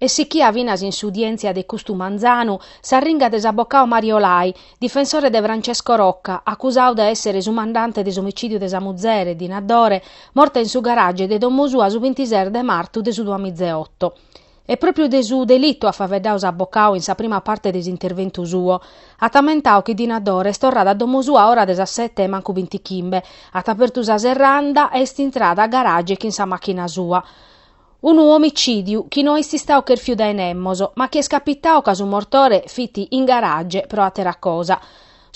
Est sichia finas in s'udièntzia de custu manzanu s'arringa de s'abocadu Mario Lai, difensore de Francesco Rocca, acusadu de èssere su mandante de s'omicìdiu de sa muzere, Dina Dore, morta in su garage de domo sua su bintises de martu de su duamizeoto. E pròpiu de su delitu at faeddadu s'abocadu in sa prima parte de s'interventu suo. At ammentadu chi Dina Dore est torrada a domo sua a ora de sas sete e mancu bintichimbe, at apertu sa serranda e est intrada a garage chin sa màchina sua. Unu omicìdiu chi no est istadu cherfiu dae nemos, ma chi est capitadu ca su mortore fit in garage pro àtera cosa.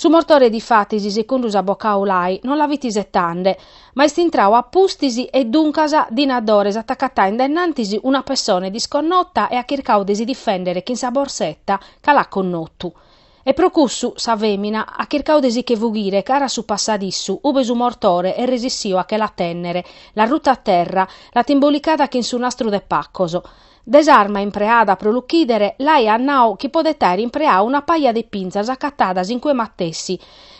Su mortore difatis, segundu s'abocau Lai, no la fit isetande, ma est intradu a pustis e duncas Dina Dore s'at acatada in dennantis una pessone disconnota e at chircadu de si difèndere chin sa borseta ca l'at connotu. E pro cussu sa fèmina at chircadu de si che fughire cara a su passadissu, ube su mortore est resissio a che la tènnere, l'at ruta a terra, l'at imbolicada chin su nastru de pacos. De s'arma impreada pro l'uchìdere, Lai at nau chi podet àere impreadu una paja de pinzas acatadas in cue matessi,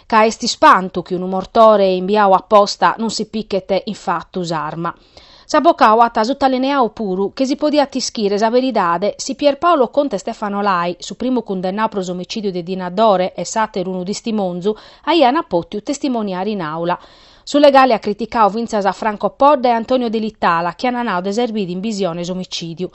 ca est ispantu chi unu mortore imbiadu a posta non si pichet in fatu s'arma. S'abocau at sutalineau puru chi si podiat ischire sa beridade si Pierpaolo Contu e Stefano Lai, su primu cundennau pro s'omicìdiu de Dina Dore e s'àteru unu tistimonzu, aiant pòtiu testimoniare in àula. Su legale at criticau fintzas a Franco Podda e Antonio Delitala chi ant nau de esser bidu in bisione s'omicìdiu.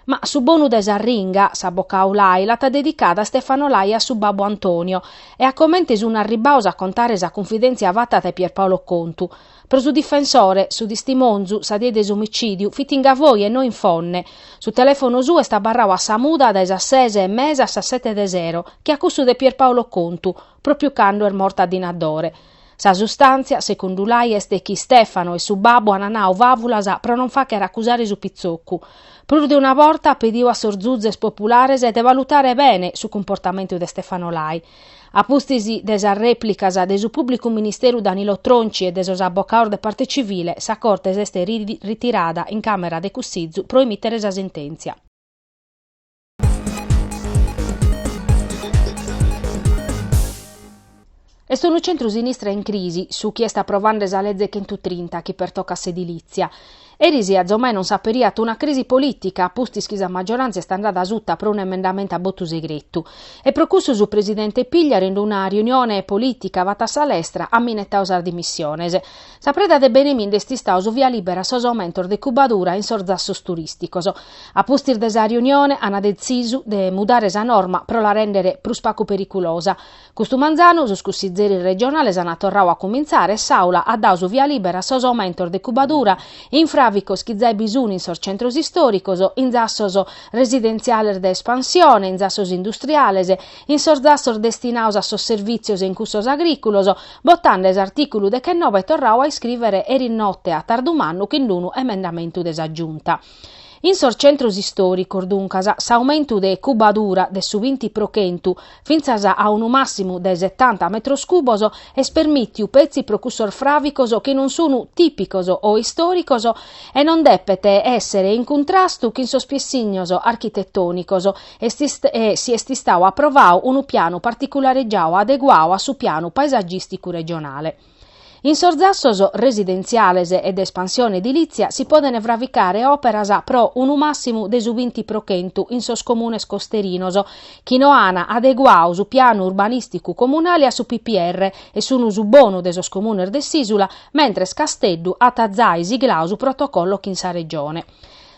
Ma su bonu de s'arringa, s'abocau Lai l'at dedicada a Stefano Lai e a su babbu Antonio e a comente sunt arribbaus a contare sa cunfidèntzia fata dae Pierpaolo Contu, Pro su difensore, su tistimonzu, sa die de s'omicìdiu, fit in Gavoi e no in Fonne. Su telèfonu suo est abarradu a sa muda dae sas ses e mesa a sas sete de sero, che a cussu de Pierpaolo Contu, pròpiu cando est morta Dina Dore. Sa sustàntzia, segundu Lai, est chi Stefano e su babbu ant nadu fàvulas pro non fàghere acusare su pitzocu. Prus de una borta at pedidu a sos zuzes populares de valutare bene su cumportamentu de Stefano Lai. A pustis de sas rèplicas de su pùblicu ministeru Danilo Tronci e de sos abocados de parte civile, sa Corte s'est ritirada in càmera de cussizu pro emìtere sa sentèntzia. Est unu centru-sinistra in crisi su chi est aprovande sa Leze chentutrinta chi pertocat s'edilìtzia. Eris azomai non s'aperiat una crisi polìtica a pustis chi sa maggioràntzia est andada asuta pro un'emendamentu a botu segretu. E pro cussu su presidente Pigliaru in una riunione polìtica fata a sa lestra at minetadu sas dimissiones. Sa preda de beneminde est istadu su via libera a sos aumentos de cubadura in sos zassos turìsticos. A pustis de sa riunione ant detzisu de mudare sa norma pro la rèndere prus pagu periculosa. Custu manzanu sos cussizeris regionales ant torradu a cumintzare e s'Aula at dadu su via libera a sos aumentos de cubadura in fràvicos chi zai bi sun in sos centros istòricos, in zassos residentziales de espansione, in zassos industriales, in sos zassos destinados a sos servìtzios e in cussos agrìculos, botende s'artìculu dechenobe torradu a iscrìvere eri note a tardu mannu cun unu emendamentu de sa Giunta. In sos centros istòricos, duncas, s'aumentu de cubadura de su binti pro chentu, fintzas a unu màssimu de setanta metros cubos, est permìtiu petzi pro cussos fràvicos chi non sunt tìpicos o istòricos e non depet èssere in cuntrastu chin sos piessignos architetònicos e si est istadu aprovadu unu pianu particularegiadu adeguadu a su pianu paesagìsticu regionale. In sos zassos residentziales e de espansione edilìtzia si podent fravicare òperas pro unu màssimu de su binti pro chentu in sos comunes costerinos chi no an adeguadu su pianu urbanìsticu comunale a su PPR e sun su bonu de sos comunes de s'ìsula, mentres Casteddu at zai sigladu su protocollo chin sa Regione.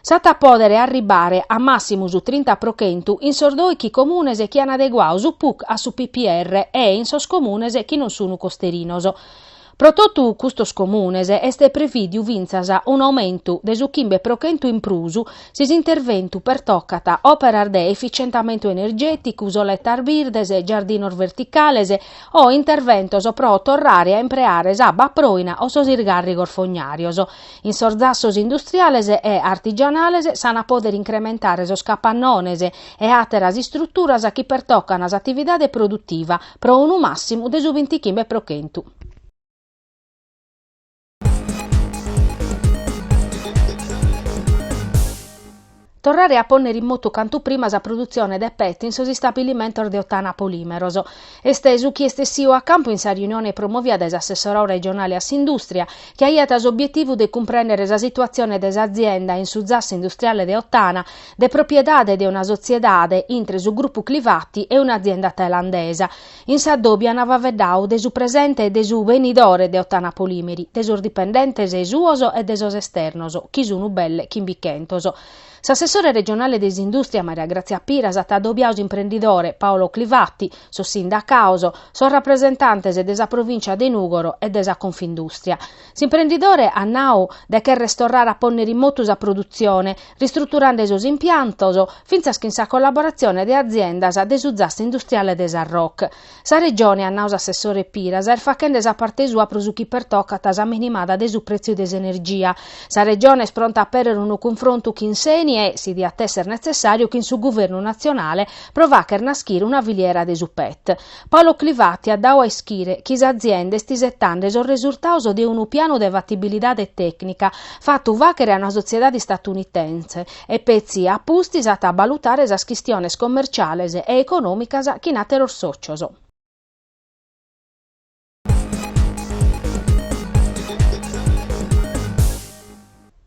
S'at a pòdere arribare a màssimu su trinta pro chentu in sos doichi comunes chi an adeguadu su puc a su PPR e in sos comunes chi non sun costerinos. Pro totu custos comunes est prevìdiu fintzas un'aumentu de su chimbe pro chentu in prus si s'interventu pertocat òperas de efitzientamentu energèticu, soletas birdes, giardinos verticales o interventos pro torrare a impreare s'abba proina o sos isgàrrigos fognàrios. In sos zassos industriales e artigianales s'an a pòdere incrementare sos capannones e àteras istruturas chi pertocan s'atividade produtiva pro unu màssimu de su bintichimbe pro chentu. Torrare a pònnere in motu cantu prima sa produtzione de pet in sos istabilimentos de Ottana Polìmeros. Est su chi est essidu a campu in sa riunione promovida dae s'assessorau regionale a s'indùstria, chi aiat s'obietivu de cumprèndere sa situatzione de s'azienda in su zassu industriale de Ottana, de propiedade de una sotziedade intre su grupu Clivati e un'azienda tailandesa, In s'adòbiu an faveddau de su presente e de su benidore de Ottana Polimeri, de sos dipendentes suos e de sos esternos, chi sun belle chimbichentos. S'assessore regionale de s'indùstria Maria Grazia Piras at adobiau s'imprendidore Paolo Clivati, sos sindacaos, sos rapresentantes de sa provìncia de Nùgoro e de sa Confindùstria. S'imprendidore at nau de cherrer torrare a pònnere in motu sa produtzione, ristruturende sos impiantos, fintzas chin sa collaboratzione de aziendas de su zassu industriale de Sarroch. Sa Regione, at nau s'assessore Piras, est faghende sa parte sua pro su chi pertocat sa minimada de su prètziu de s'energia. Sa Regione est pronta a apèrrere unu cunfrontu chin s'Eni e, si diat èssere netzessàriu, chin su Guvernu natzionale pro fàghere naschire una filiera de su pet. Paolo Clivati at dadu a ischire chi s'azienda est isetande sos resurtados de unu pianu de fatibilidade tècnica fatu fàghere a una sotziedade istatunitense e petzi a pustis at a balutare sas chistiones commerciales e econòmicas chin àteros sòcios.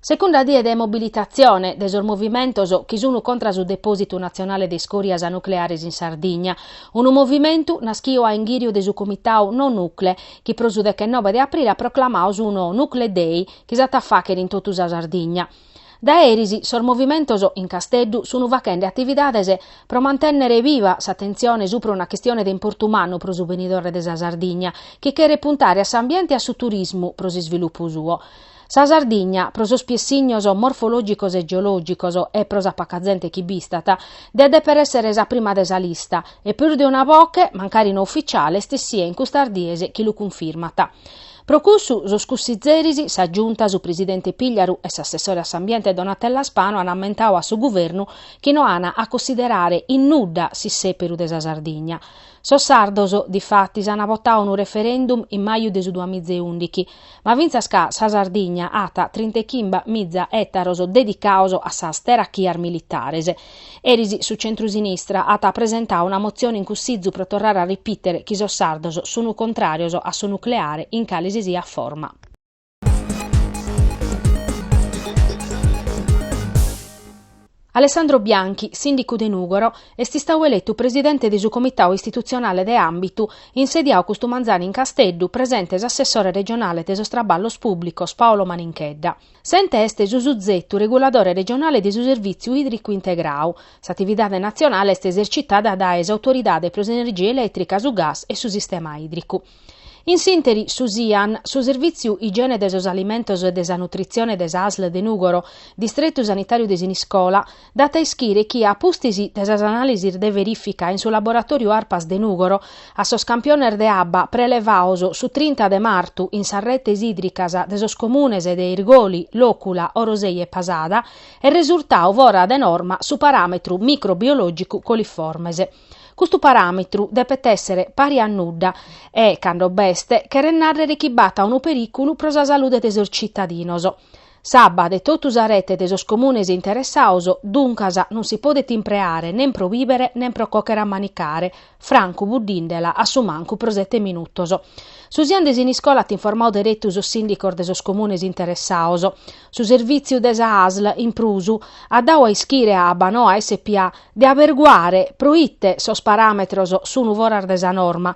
Segunda die de mobilitatzione de sos movimentos chi sunu contra su depòsitu natzionale de iscòrias nucleares in Sardigna. Unu movimentu naschiu a inghìriu de su comitadu No Nucle, chi pro su dechenobe de aprile at proclamadu su No Nucle Day, chi s'at a fàghere in totu sa Sardigna. Dae eris sos movimentos in Casteddu sun faghende atividades pro mantènnere biva s'atentzione supra una chistione de importu mannu pro su benidore de sa Sardigna, chi cheret puntare a s'ambiente e a su turismu pro s'isvilupu suo. Sa Sardigna, pro sos piessignos morfològicos e geològicos e pro sa paca zente chi b'istat, diat dèpere èssere sa prima de sa lista, e prus de una boche, mancari no ufitziale, est essia in custas dies chi lu cunfirmat. Pro cussu, sos cussitzeris, sa Giunta, su presidente Pigliaru e s'assessore a s'ambiente Donatella Spano an ammentadu a su Guvernu chi no an a cussiderare in nudda s'issèperu de sa Sardigna. Sos sardos, difatis, an votadu unu referendum in maju de su duas miza e ùndighi, ma fintzas ca sa Sardigna at trinta e chimba miza ètaros dedicados a sas terachias militares, Eris su centrusinistra at presentau una motzione in Cussizu pro torrare a ripìtere chi sos sardos sunu contràrios a su nucleare in cale si siat forma. Alessandro Bianchi, sìndicu de Nùgoro, est istadu eletu presidente de su Comitau Istitutzionale de Àmbitu, insediadu custu manzanu in Casteddu, presente s'assessore regionale de sos Traballos Pùblicos Paolo Maninchedda. S'ente est su suzetu reguladore regionale de su Servìtziu Ìdricu Integradu. S'atividade natzionale est esercitada dae s'Autoridade pro s'Energia Elètrica, su Gas e su Sistema Ìdricu. In s'ìnteri, su SIAN, su Servìtziu Igiene de sos Alimentos e de sa Nutritzione de sa asl de Nùgoro, Distretu Sanitàriu de Siniscola, dat a ischire chi, a pustis de sas anàlisis de verìfica in su laboratòriu Arpas de Nùgoro, a sos campiones de abba prelevados su trinta de martu in sas retes ìdricas de sos comunes de Irgoli, Lòcula, Orosei e Pasada, est resurtadu fora de norma su paràmetru microbiològicu coliformes. Custu paràmetru depet èssere pari a nudda e, cando b'est, cheret nàrrere chi b'at unu perìculu pro sa salude de sos tzitadinos. S'abba de totu sa rete de sos comunes interessados, duncas, non si podet impreare nen pro bìbere nen pro cochere a manicare, francu buddìndela a su mancu pro sete minutos. Su Sian de Siniscola at informadu deretu sos sìndicos de sos comunes interessados. Su servìtziu de sa Asl, in prus, at dadu a ischire a Abbanoa SpA de aberguare pro ite sos paràmetros sunt foras de sa norma